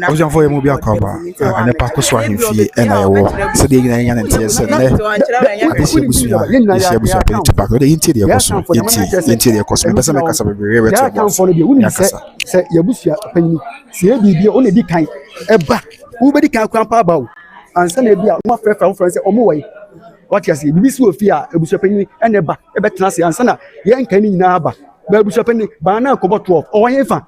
Abusuafoɔ yɛ mu bi akɔaba a nnipa kɔ so ahemfie na yɛwɔ sɛdeɛ nyinaa yɛnya ne nteɛ sɛ nnɛ adesua abusua yɛhyia abusua pɛ nti baako deɛ yɛntie deɛ ɛkɔ so yɛntie yɛntie deɛ ɛkɔ so mepɛ sɛ mekasa bebree bɛte abuafoɔ no deɛ wonim sɛ sɛ yɛabusua panyini sɛ yɛ biribi a wona di kan ɛba wobɛdi kan kwan pa aba o ansa na ebi a womafrɛfrɛ wofrɛ sɛ ɔmo wɔ yi wate aseɛ biribi si wɔ fie a abusua panyini ɛna ɛba ɛbɛtena ase ansa na yɛnka ne nyinaa aba baabusuapɛni baa na akɔbɔ 12 ɔwɔ yɛn fa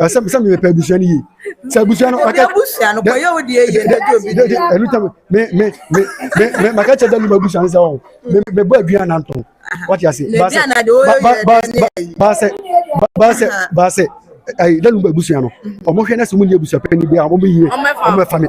ɛsɛ sɛ meyɛ pɛ abusua no yie sɛ abusua no maka abusua no kɔyɛ wo deɛ yie na gye obi deɛ ɛno tam me me me me me maka kyɛ dɛm abusua no sɛ ɔ me me bɔ aduan na ntɔn wate ase baasɛ baasɛ baasɛ baasɛ ayi dɛm abusua no ɔmo hwɛ na sɛ ɔmo ni abusua pɛ ni bi a ɔmo yie ɔmo bɛ fa mi.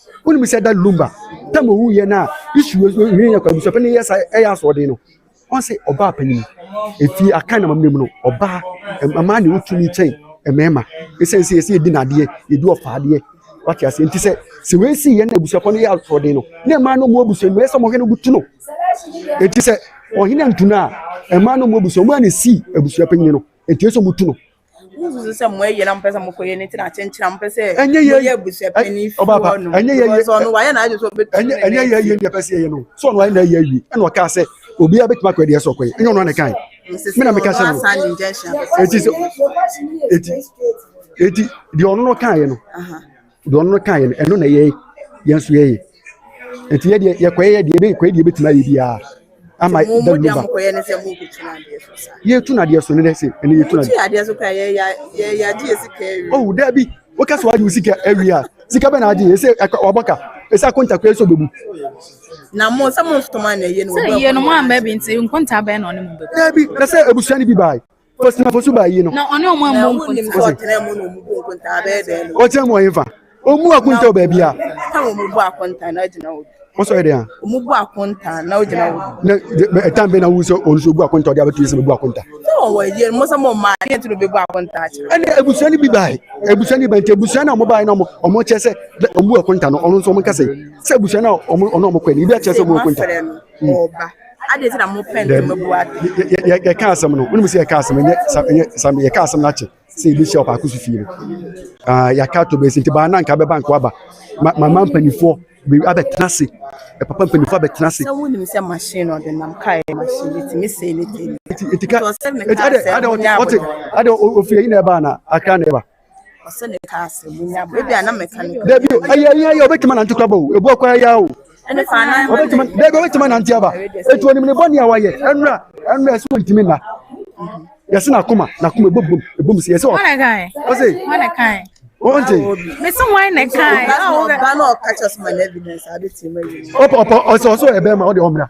wonim sɛ da lumba tam owu yɛ na isu hwere yɛ kwa busuapɛ ne yɛ sa ɛyɛ asoɔden no ɔn sɛ ɔbaa panyin efi aka na mammerɛ mu no ɔbaa mmaa ne wotumi kyɛn mmarima ɛsiane sɛ yɛsɛ yɛdi nadeɛ yɛdi ɔfa adeɛ wate aseɛ nti sɛ sɛ wei si yɛ na abusuapɔ no yɛ asoɔden no na mmaa no mu abusua mu ɛyɛ sɛ ɔmɔhwɛ no butu no ɛti sɛ ɔhene antu no a mmaa no mu abusua mu a ne si abusua panyin no ɛti ɛsɛ ɔmutu no Wosusu sɛ mo ayɛ na mopɛ sɛ mokɔyɛ ne ti na akyenkyere a mopɛ sɛ moyɛ abusuapɛni fi hɔ no because ɔno wayɛ n'adwene sɛ ɔbɛtu ne ɛnyɛ yɛ ayie ne ɛpɛ sɛ yɛyɛ no sɛ ɔno ayɛ n'ayɛ awie ɛna ɔkaa sɛ obiara bɛtumi akɔyɛ deɛ sɛ ɔkɔyɛ ɛnyɛ ɔno ana kae me na meka sɛ no ɛti sɛ ɛti ɛti deɛ ɔno no kaeɛ no Deɛ ɔno kaeɛ no, ɛno na ɛyɛ yɛn nso yɛyɛ. Nti yɛ deɛ yɛkɔyɛ yɛ deɛ yɛkɔyɛ deɛ yɛbɛtumi ayɛ biara ama da no ba. Yɛtu no adeɛ so ne dɛ se ɛne yɛtu no adeɛ. Oh daabi, woka sɛ wagye wo sika awie a, sika bɛ na agye yɛ sɛ wabɔ ka, ɛsɛ akonta koraa sɛ ɔbɛbu. Na mo sɛ mo nsoma na ɛyɛ no. Sɛ yɛnom amba bi nti nkonta bɛn na ɔne mo bɛbu. Daabi, na sɛ abusua no bi bae, Fosina fosuba yi no. Na ɔne ɔmo ammɔ nkontaa. Wonim sɛ ɔtena mu na ɔmo bu nkontaa bɛyɛ dɛn no. Ɔtena mu wɔ hefa? Ɔmu akonta wɔ baabi a. Ɛta na ɔmo bu akonta na ɔgyina wɔ bi. Ɔsɔ yɛ dɛn a? Ɔmo bu akonta na ɔgyina wɔ bi. Na ɛtan bɛn na wohu sɛ ɔno nso ɔbu akonta ɔde abɛto yɛ sɛ bɛbu akonta? Sɛ ɔwɔ yɛ mo sɛ mo mmaa deɛ nti na ɔbɛbu akonta akyerɛ. Ɛne abusua no bi bae. Abusua no bi nti abusua no a ɔmo bae na ɔmo ɔmo kyerɛ sɛ ɔmo bu akonta no ɔno nso ɔmo nka sɛ sɛ abusua no a ɔmo ɔno ɔmo kɔɛ no ebi akyerɛ sɛ ɔmo bu akonta. ɔreba. Adɛn nti na mopɛ ntɛm Daabi, abu atɛn? yɛ- yɛ- yɛ- yɛ- yɛka asɛm no wonim sɛ yɛka asɛm ɛnyɛ sa- ɛnyɛ sam yɛka asɛm no akyɛ sɛ yɛbɛhyia ɔpaako so fie no Ah, yɛaka ato bɛsi nti baa na nka bɛba nka waba Ma- mama mpanimfoɔ be- abɛtena ase Eh, papa mpanimfoɔ abɛtena ase Sɛ wonim sɛ machine na ɔde nam kaa yɛ machine ɛtumi sɛe ne tɛm. nti nti ka Nti ɔsɛ meka nti adɛ sɛ adɛ ɔte monyɛ ɔte aboterɛ. adɛ ɔ- ɔfiri ayi na ɛba na akra na ɛba ɔsɛ ne ka ase mu nya bɔ ebi a na mɛka ne dabi ɛyɛ ɛyɛ ɛyɛ ɔbɛtuma nante kora bɔ o ebu akora ya o ɔbɛtuma dabi ɔbɛtuma nante aba etu onim ne bɔ ne awa yɛ ɛnura ɛnura ɛsɛ ɔntumi na yɛsɛ na akoma na akoma ebom bom ebom si yɛsɛ ɔ ɔsɛ ɔnte mesi wɔn na kan ɔba na ɔka kyɛ soma na evidence adi ti ma yi ɔpɔ ɔpɔ ɔsɛ ɔsɛ ɛbɛn ma ɔde ɔmira.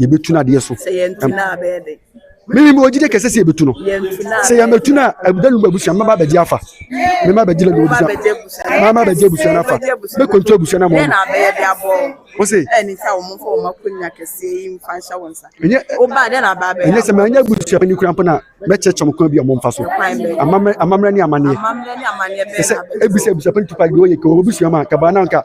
yɛbɛtu no adeɛ so meme ɔgyide kɛsɛ sɛ yɛbɛtu no sɛ yɛmɛtu no a ɛbɛnu ba abusua mɛba bɛgye afa mema bɛgye la bɛbusua mama bɛgye abusua no afa mɛkɔntu abusua no mɔno wo se ɛnyɛ sɛ manyɛ abusua pani kora mpo no a mɛkyɛkyɛ mo kwan bi a momfa so amammerɛ ne amanneɛ ɛsɛ ɛbisɛ abusua pani tupa deɛ ɔyɛ kɛ wɔbusua ma kabaa no anka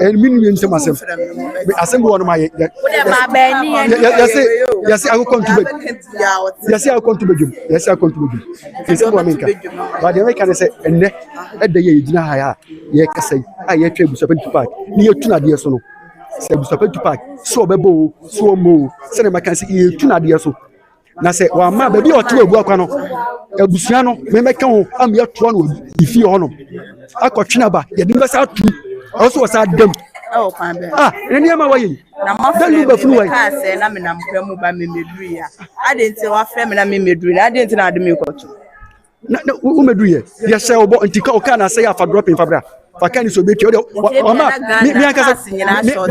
Eh, me nua nsɛm asɛm asɛm bi wɔ no ma yɛse yɛse akokɔ nto bɛ yɛse akokɔ nto bɛdwam yɛse akokɔ nto bɛdwam nsɛm wɔ menka but deɛ mɛka ne sɛ ɛnnɛ ɛda yɛ yɛgyina ha a yɛkasa yi a yɛtwa abusapɛ nto paak ne yɛtu no adeɛ so no sɛ abusapɛ nto paak sɛ ɔbɛbɔ o sɛ ɔmmɔ o sɛdeɛ mɛka sɛ yɛtu no adeɛ so na sɛ wamma baabi a ɔte abu akwa no abusua no mɛmɛka ho ama yɛatoa no ne fie hɔ nom akɔtwe no aba yɛde no bɛsa atom ɛwɔ so wɔ saa dam ɛwɔ kwan bɛn ah ne nneɛma wɔyɛ yi na mafrɛ me mekaa sɛ na menam kwa mu ba memɛduru yi a ade nti wafrɛ me na memɛduru na ade nti na ade mekɔto na na womɛdu yɛ yɛhyɛ wo bɔ nti ka ɔkaa na asɛe afa drɔpin fa bra fa ka ne sɛ ɔbɛtua wode ɔma me ankasa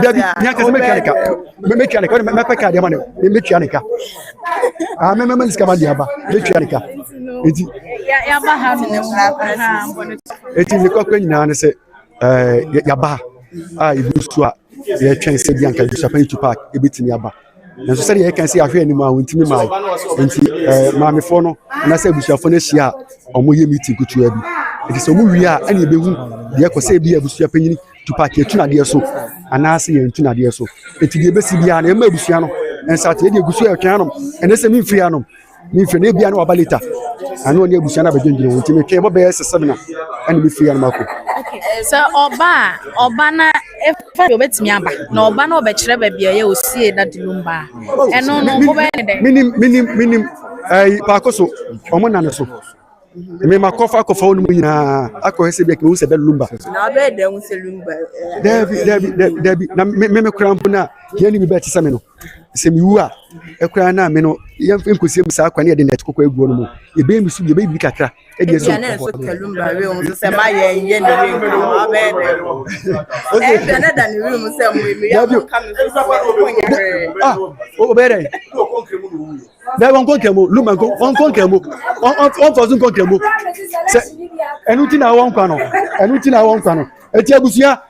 dabi me ankasa mɛtua ne ka mɛtua ne ka wode mɛpɛ ka deɛ ma ne mɛtua ne ka ah mɛmɛma ne sika ma deɛ aba mɛtua ne ka nti nti ne kɔkɔ nyinaa ne sɛ yɛaba a ɛbu so a yɛtwɛn sɛ bi anka busuafa yi tu park ɛbɛtumi aba Nanso sɛdeɛ yɛka sɛ ahwɛ anim a wɔntumi mae nti eh, maamefoɔ no anaasɛ abusuafoɔ no ahyia a wɔyɛ meeting kutua bi ɛti sɛ wɔwie a ɛne ɛbɛhu deɛ ɛkɔ sɛ ebi abusua panyini tupac yɛtu nadeɛ so anaasɛ yɛntu nadeɛ so ɛti deɛ ɛbɛsi biara na ɛma abusua no ɛnsate ɛdeɛ gu so ɛtwɛn anom ɛnɛ sɛ memfiri anom Me fie no ebia na waba later. Ɛna ɔne abusua no abɛdwendwene ho nti metwɛn bɔ bɛyɛ sɛ seven a ɛna mefiri anam akɔ. sɛ ɔba a ɔba na ɛfa deɛ ɔbɛtumi aba na ɔba na ɔbɛkyerɛ baabi a ɛyɛ osie na dulum ba a ɛno no mobɛyɛ ne dɛn Menim menim menim ɛyi paako so wɔn nna no so. Me ma kɔfa akɔfa wɔn mu nyinaa akɔhwɛ sɛ bi a kɛmɛ sɛ bɛ lumba. na wabɛyɛ dɛn ho sɛ lumba eh, Dɛbi dɛbi dɛbi dɛbi na me me me kura mpo na yɛn ni bi bɛ ti sɛ me no. sɛ mewu a ɛkora no a me no yɛmfa nkɔsie me saa kwan yɛde nɛt kɔkɔ aguɔ no mu yɛbɛyɛ me so yɛbɛyɛ biribi kakra ɛdeɛ sɛ wobɛyɛ dɛn dɛ wɔnkɔ nkramu luma wɔnkɔ nkramu wɔmfa so nkɔ nkramu sɛ ɛno nti na wɔnkwa no ɛno nti na wɔnkwa no ɛti abusua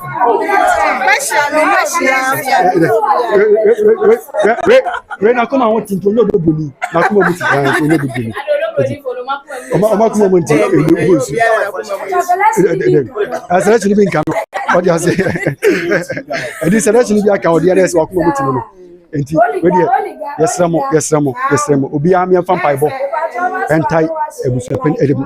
wei na kɔma ho tinti onye bɛ boli na kɔma mu ti kan onye bɛ boli ɔma ɔma kɔma mu nti ebi ebi nsu asɛrɛ kyini bi nka no ɔdi ase ɛdi sɛrɛ kyini bi aka ɔdi yɛrɛ sɛ wakɔma mu ti no no nti wei deɛ yɛsrɛ mo yɛsrɛ mo yɛsrɛ mo obiara mi nfa mpaebɔ ɛntae abusua pɛn ɛdi mu.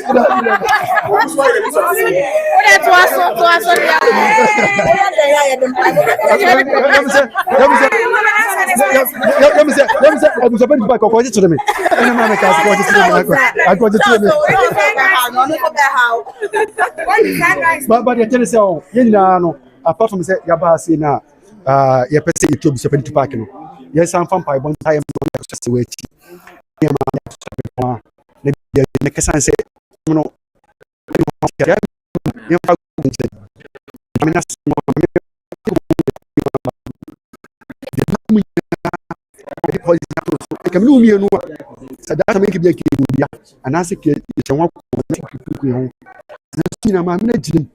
apart from sɛ yɛaba ase no a yɛpɛ sɛ yɛtu abusua pani tu paake no yɛsan fa mpaebɔ ntaeɛ ma no akɔhyɛ sɛ wɔakyi nneɛma ne akɔhyɛ bepɔn a na bia ɛtumi aka ɛsiane sɛ ɔmo no ɛne wɔn ate aseɛ nti yɛmfa google nkyerɛ no nyame n'asɛm no ma me yɛ binom nyinaa ɛde policy ato so ɛka me ne wo mmienu a sɛ daa sɛm ɛnka bi ɛka ɛbu bia anaasɛ kɛ ɛhyɛ ho akoma na sɛ kukuku yɛ ho nanso nyinaa maame no agyirim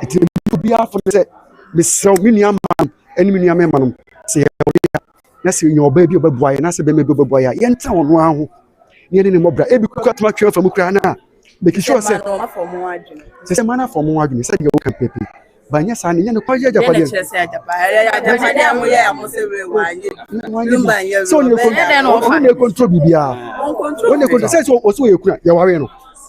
ɛti na meyɛ obiara fo no sɛ mesrɛ me nua mma nom ɛne me nua mɛma nom sɛ yɛ ɔbea na sɛ yɛ ɔbaa bi ɔbɛboa yɛ na sɛ bɛma bi ɔbɛboa yɛ a yɛntena ɔno ara ho ne yɛne ne mmɔbra ebi kura toma twɛn afa mu koraa no a make sure sɛ sɛ sɛ ma no afɔ mo adwene sɛ deɛ woka pɛpɛ banyɛ saa ne nyɛ nokware yɛ agyapadeɛ sɛ ɔne ɛkɔntoro biribiaa ɔne ɛkɔntoro sɛ sɛ ɔsɛ ɔyɛ kuna yɛware no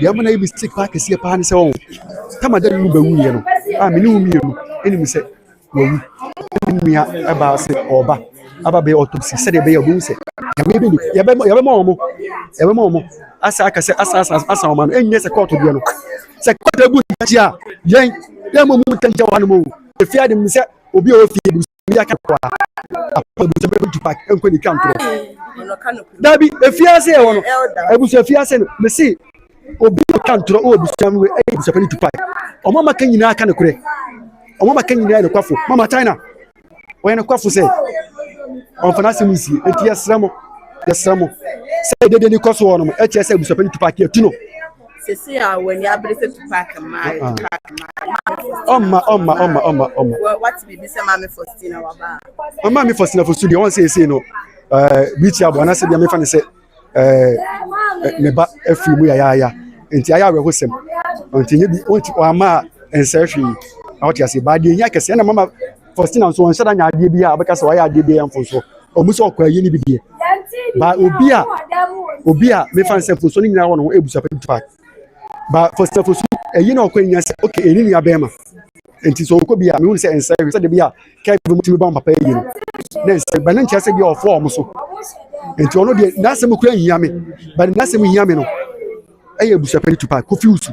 Deɛ ama no ayɛ mistake paa kɛseɛ paa ne sɛ ɔho tama da nunu bɛwuiɛ no a mene wo mmienu anim sɛ wawu ɛna nnua ɛbaa sɛ ɔba aba bɛyɛ autopsy sɛdeɛ ɛbɛyɛ ɔbɛhu sɛ nyame bɛ yɛbɛma yɛbɛma wɔn yɛbɛma wɔn asa aka sɛ asa asa asa wɔn ano ɛnyɛ sɛ kɔɔto deɛ no sɛ kɔɔto abu ntakyi a yɛn yɛn mo mu ntakyi wɔ hanom o efia de mu sɛ obi a ɔfie obi aka kɔ a abusua bɛ tu paaki nkɔ ne twa ntorɔ dabi efiase yɛ wɔ no abusua fiase no mesi obi na twa ntorɔ wɔ abusua no ɛyɛ abusua bɛ tu paaki ɔmo ama ka nyinaa aka ne korɛ ɔmo ama ka nyinaa yɛ ne kwafo mama china wɔyɛ ne kwafo sɛ ɔnfana asɛm nsie eti yɛsrɛ mo yɛsrɛ mo sɛ dede ne kɔ so wɔ no ɛkyɛ sɛ abusua bɛ tu paaki etu no. Sisi a wani abere fefe paaki mmaa ayɛ paaki mmaa. Ɔmma ɔmma ɔmma ɔmma ɔmma. Wati bibi sɛ maame Faustina waba. Ɔmma mi Faustina fosu deɛ wɔn sɛ ese no ɛɛ biikyi abo anaasɛ deɛ mefa ne sɛ ɛɛ ne ba afiri mu yayaaya nti ayɛ awerɛho sɛm nti nye bi wɔn ti wɔn ama nsɛɛ hwee na wɔte ase baa deɛ nya kɛse ɛna mama. Faustina nso ɔnhyɛ da nya adeɛ bi a ɔbɛka sɛ wayɛ adeɛ bi yɛ mfonsoɔ ɔmu sɛ ɔkɔ ayie no bi deɛ ba obi a obi a mefa no sɛ mfonsoɔ no nyinaa wɔ ne ho ɛbu sapɛ tupa ba Faustina fosu ɛyi na ɔkɔ nyina sɛ ok ɛni nua bɛɛ ma nti sɛ ɔkɔ bi a mehu sɛ ɛnsɛ hwɛ sɛ de bi a kɛbi mu tumi bɔ papa ɛyi no na ɛnsɛ ba ne nkyerɛ sɛ bi a ɔfoɔ ɔmo so nti ɔno deɛ n'asɛm kura nhia me ba n'asɛm hia me no ɛyɛ abusapɛ ne tupa kofi usu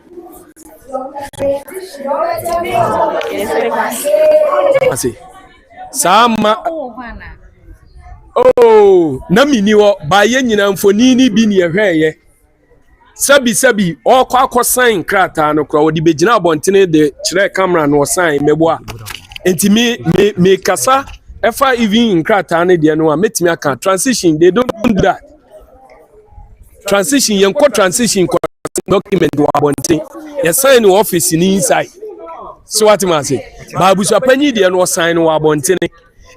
ase saa ma oh na menni hɔ baa yɛ nyina mfoni no bi ne ɛhwɛɛyɛ sɛbisɛbi ɔkɔ akɔsan nkrataa no koraa ɔde bɛgyina abɔntene de kyerɛ kamera no ɔsan mmɛboa nti me me me kasa ɛfa even nkrataa no deɛ no a mɛtumi aka transition they don't do that transition yɛn kɔ transition kɔ document wɔ abɔnten yɛ sign wɔ office ni inside so wate ma ase baabusua panyin deɛ no ɔsan no wɔ abɔnten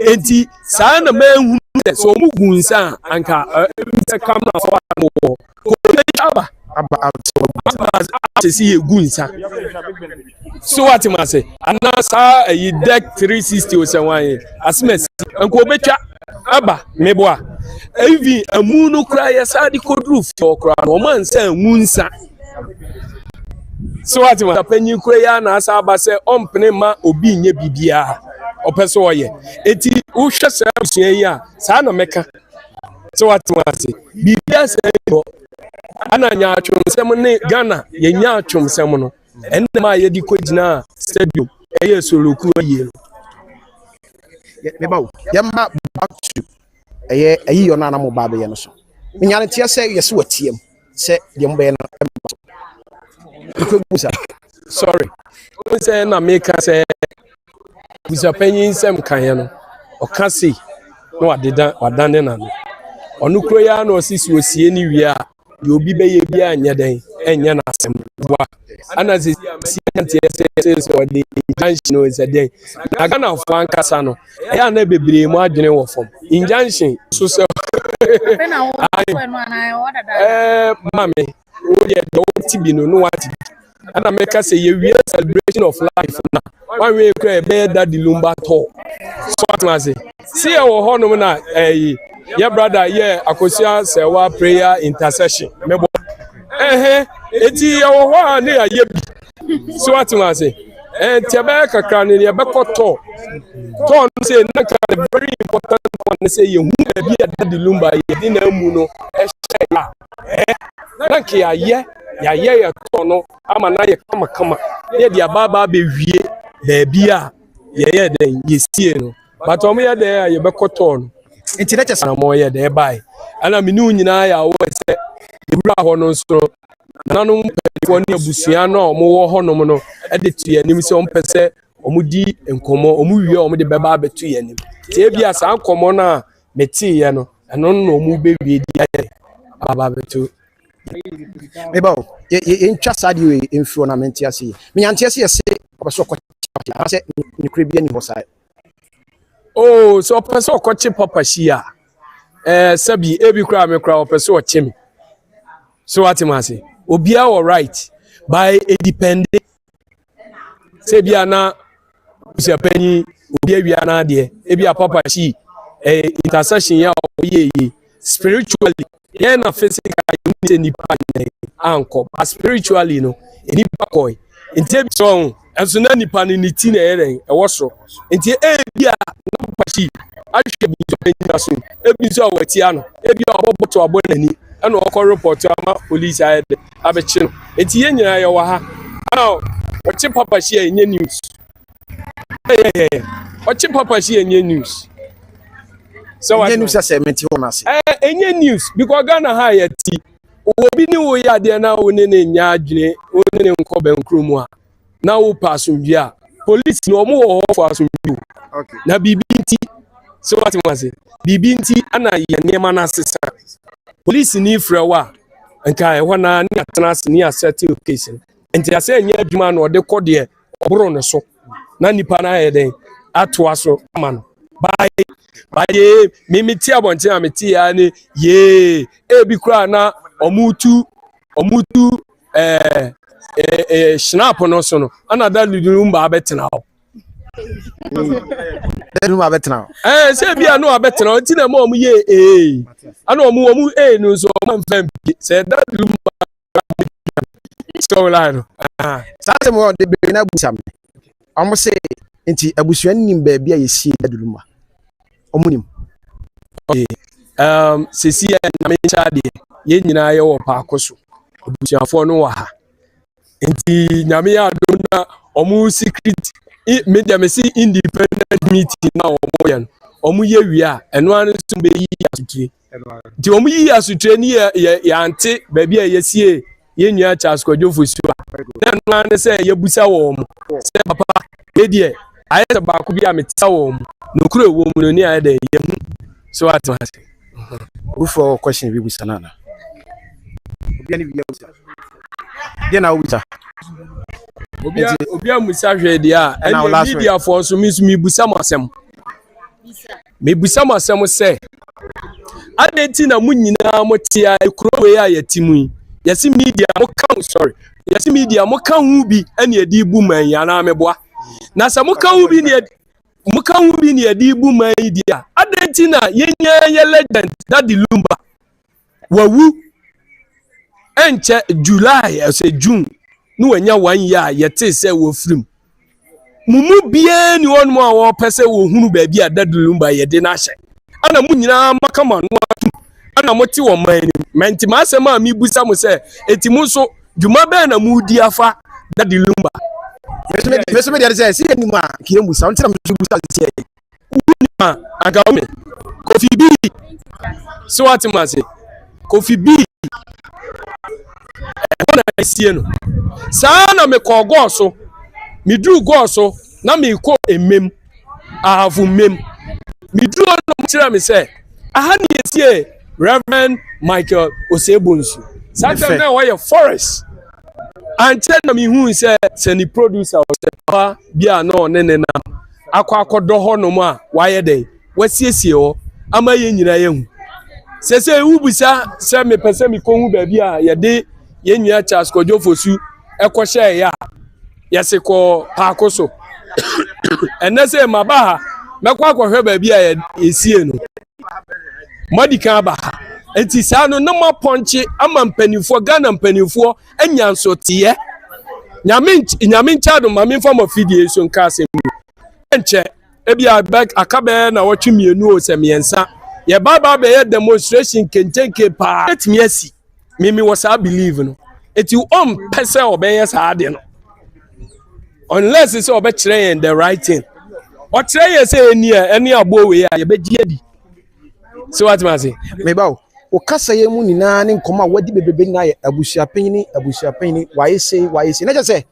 eti saa na mɛnhu sɛ sɛ ɔmo gu nsa a anka ɛbi sɛ kam na afɔ ano wɔ kò ɛntwa aba aba asese yɛ gu nsa so wate mu ase anaa saa ayi dec 360 osɛwan yi asemasi nka obɛtwa aba meboa even amu no koraa yɛsaa de kɔduru fie koraa no ɔma nsa amu nsa so wate mu panyin kura yi a na asa aba sɛ ɔmpene ma obi nyɛ biribiara ɔpɛ so ɔyɛ eti wohwɛ saa abusua yi a saa na mɛka so wate mu ase biribiara sɛ ɛyɛ hɔ ana nyaatwomsɛm ne ghana yɛ nyaatwomsɛm no Ɛnam a yɛde kɔgyinaa stadium yɛɛ soloku awie no, yɛba o, yɛmma back to ɛyɛ ayi yɔ no a na mo ba abɛyɛ no so. Menya no teɛ sɛ yɛsɛ wɔteam sɛ deɛ mobɛyɛ no ɛmma so. Mekɔ gu sa. Sorry, wo sɛ na meka sɛ abusuapanyin nsɛm kaeɛ no, ɔka sei na wadeda wadane n'ano. Ɔno koro yi ara na ɔse sɛ ɔsie no wie a Deɛ obi bɛyɛ biara nyɛ dɛn ɛnyɛ no asɛm boa ana sɛ si anteɛ sɛ sɛ sɛ ɔde injunction no sɛ dɛn na ghanafoɔ ankasa no ɛyɛ ana bebree mu adwene wɔ fam injunction so sɛ ɛɛ maame wodeɛ deɛ wote bi no no wate bi ɛna mɛka sɛ yɛwie celebration of life na wanwie kura ɛbɛyɛ dadi lumba tɔ so atena ase si ɛwɔ hɔnom na ɛyi yɛ brada yɛ akosua sɛwa prayer intercession mɛbɔ ɛhɛ eti ɛwɔ hɔ a ne yɛayɛ bi so atena ase ɛnti ɛbɛyɛ kakra ne yɛbɛkɔ tɔ tɔ no sɛ nanka the very important one sɛ yɛhu baabi a dadi lumba yɛde na amu no ɛhyɛ yɛ a eh na nka yɛayɛ yɛayɛ yɛtɔ no ama no ayɛ kamakama na yɛde aba aba abɛwie baabi a yɛyɛ dɛn yɛsie no but wɔn yɛ dɛn a yɛbɛkɔ tɔɔ no nti na kyɛ sɛ na wɔn yɛ dɛn ɛbae ɛna mene wo nyinaa yɛ awɔ sɛ yɛwura hɔ no nso nananom mpanimfoɔ ne abusua no a wɔn wɔ hɔnom no de to yɛn anim sɛ wɔn pɛ sɛ wɔn di nkɔmɔ wɔn wie wɔn de bɛba abɛto yɛn anim tie bi a saa nkɔmɔ no a meteeɛ no, ɛno na wɔn bɛwie di ayɛ aba bɛto meba o yɛntwa saa deɛ wei mfiri na mente ase yi menyanteɛ sɛ yɛse ɔpɛ sɛ ɔkɔkye papa hyia sɛ nokorɛ bi ani hɔ saa o sɛ ɔpɛ sɛ ɔkɔkye papa hyia ɛɛ sɛbi ebi koraa me koraa ɔpɛ sɛ ɔkye me so ate m ase obiara wɔ right by edipɛnde sɛ bia na busuapanyin obi awia n'adeɛ ebi a papa kyi ɛyɛ eh, intercession yɛ a ɔyɛ yie spiritually yɛn na physically yɛn ni sɛ nipa nyɛ ankɔ but spiritually no nipa kɔɛ nti ebi sɛ ɔho ɛnso na nipa no ne ti na ɛyɛ dɛn ɛwɔ soro nti ebi a na papa kyi ahwɛ busuapanyin aso ebi nso a wɔatia no ebi a ɔbɔ bɔtɔ abɔ n'ani ɛna ɔkɔ report ama police ayɛ dɛ. abɛkye no enti yɛn nyinaa yɛwɔ ha a ɔkye papa hyia ɛnyɛ news ɛyɛyɛyɛ ɔkye papa hyia ɛnyɛ news sɛ wa ɛnyɛ news sɛ mete wɔn ase ɛɛ ɛnyɛ news because Ghana ha yɛ ti obi ne wo yɛ adeɛ na wo ne ne nya adwene wo ne ne nkɔ bɛn kurom a na wopɛ asomdwe a polisi no wɔn wɔ hɔ fo asomdwe o na biribi nti sɛ wate mu ase biribi nti ana yɛ nneɛma no asesa polisi ni frɛ wo a nka ɛhɔ na ne atena ase ne asɛte case no nti asɛ ɛnyɛ adwuma na ɔde kɔ deɛ ɔboro no so na nipa no ayɛ dɛn atoa so ama no baaye baaye mimi ti abɔnten a mete ya ne yee ebi koraa na ɔmo tu ɔmo tu ɛɛ ɛɛ ɛɛ hyinapo no so no ɛna dadi no mu ba abɛtena hɔ. dadi no mu abɛtena hɔ. ɛɛ sɛ ebi a no abɛtena hɔ ti na ɛma wɔn yɛ ee ɛna wɔn wɔn ee no nso wɔn nfɛn bi sɛ dadi no mu ba abɛtena hɔ. sɛ wɔn line no. saa sɛ mo de bɛn na busa mi. Ɔmo se nti abusua no nim baabi a yɛsie daduru ma? Ɔmo nim. Ok um sesi a nyame nkyɛ adeɛ yɛn nyinaa yɛwɔ paako so abusuafoɔ no wɔ ha nti nyame yɛ adom na ɔmo secret me deɛ me se independent meeting na ɔmo yɛ no ɔmo yɛ wie a ɛno ano nso bɛyi asotire nti wɔn yi asotire ni yɛ yɛ yɛante baabi a yɛsie yɛn nua charles kwadwo fosuo a na ɛno ara ne sɛ yɛbusa wɔn mo sɛ papa yɛ deɛ ayɛ sɛ baako bi a metia wɔn mo nokuro wɔ mu no ne ayɛ dɛ yɛhu so ato ase wofoɔ kɔhyɛn bi busa no ana obia ne bia busa deɛ na wobusa obi a musa hwɛ deɛ a ɛna mediafoɔ nso me nso mebusa mo asɛm Mebisa mo asɛm sɛ, adɛn nti na mo nyinaa mo te a kuro wei a yɛte mu yi, yɛse media mo ka ho, sorry, yɛse media mo ka ho bi ɛne ɛde bu man yi anaa meboa? Na sɛ mo ka ho bi ne mo ka ho bi ne ɛde bu man yi deɛ a, adɛn nti na yɛnyaa yɛ legend Daddy Lumba? Wawu ɛnkyɛ July ɛsɛ June na wanya one year a yɛtee sɛ wɔafiri mu. Mo mu biara ni hɔnom a wɔpɛ sɛ wɔhunu baabi a Dadu Lumba yɛde no ahyɛ. Ɛna mo nyinaa maka mo ano atom. Ɛna mote wɔ man anim. Mɛnti m'asɛm a mebusa mo sɛ, eti mo nso, dwuma bɛn na moredi afa Dadu Lumba? Meso medeɛ ne sɛ, sɛ yɛnim a, nka yɛmmu sa. Ɔno nti na meso mebusa sɛ. Wohu me a, anka wohu me. Kofi B, sɛ woate mu ase. Kofi B, ɛhɔ na ɛsie no. Saa na mekɔɔ gɔɔ so. Meduru gɔɔ so na mekɔ mmem. Ahavu mmem. Meduru hɔ na wɔkyerɛ me sɛ, aha na yɛsie Reverend Michael Osei-Bonsu. Saa time na ɛhɔ yɛ forest. Ankyɛ na mehui sɛ sɛ ne producer ɔsɛ papa bi a na ɔne ne nam. akɔ akɔdɔ hɔnom a wayɛ dɛn wasiesie hɔ ama yɛn nyinaa yɛhu sɛsɛ wobisa sɛ mepɛ sɛ mekɔhu baabi a yɛde yɛn nua charles kɔdwofo su ɛkɔhyɛeɛ a yɛse kɔ paako so ɛnɛ sɛ maba ha mɛkɔ akɔhwɛ baabi a yɛsie no moadi kan aba ha nti saa no na moapɔnkye ama mpanimfoɔ ghana mpanimfoɔ anya nsoteɛ nyame nyame nkyɛ adom ma memfa mo afidie so nka asɛm mu ɛnkyɛ ebi aka bɛyɛ na wɔtwe mmienu o sɛ mmiɛnsa yɛbaabaa bɛyɛ demonstration kenkenke paa ɛtumi asi me mewɔ saa believe no eti ɔmpɛ sɛ ɔbɛyɛ saa ade no unless sɛ ɔbɛkyerɛ yɛn the right thing ɔkyerɛ yɛn sɛ ɛni a ɛne aboɔ wei a yɛbɛgye adi sɛ watema ase meba o wo kasa yɛ mu nyinaa ne nkɔmɔ a wadi bebrebe nyinaa yɛ abusuapanyini abusuapanyini wayɛ sei wayɛ sei na kyɛ sɛ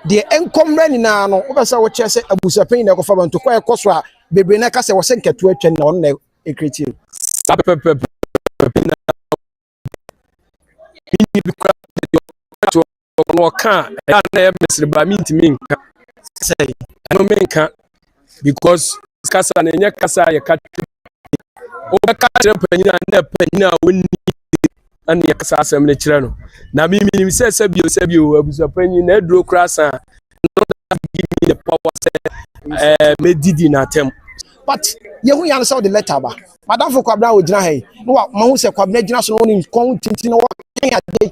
deɛ ɛnkɔ mmerɛ nyinaa no wobɛ sɛ wokyerɛ sɛ abusuapanyini na ɛkɔfa ba ntokɔ a ɛkɔ so a bebree na ɛka sɛ wɔ sɛ nkɛtoa atwa na ɔno na nkratamu. Saa pɛpɛɛpɛ na wɔde me nne bi koraa de deɛ ɔka to hɔ no ɔka a ɛyɛ a na ɛyɛ mesere ba mentumi nka sɛ ɛno menka because kasa no ɛnyɛ kasa a yɛka wobɛka kyerɛ panyin a na panyin a wɔnni na ne yɛkasa asɛm no kyerɛ no na memenim sɛ sɛbio sɛbio abusuapanyin na aduro koraa sa a no that give me the power sɛ ɛɛ eh, mɛdidi n'atɛm. but yɛhu ya no sɛ wode lɛta ba madamfo kwabena a ɔgyina ha yi na mahu sɛ kwabena gyina so na wɔne nkɔn tinti na wɔka ade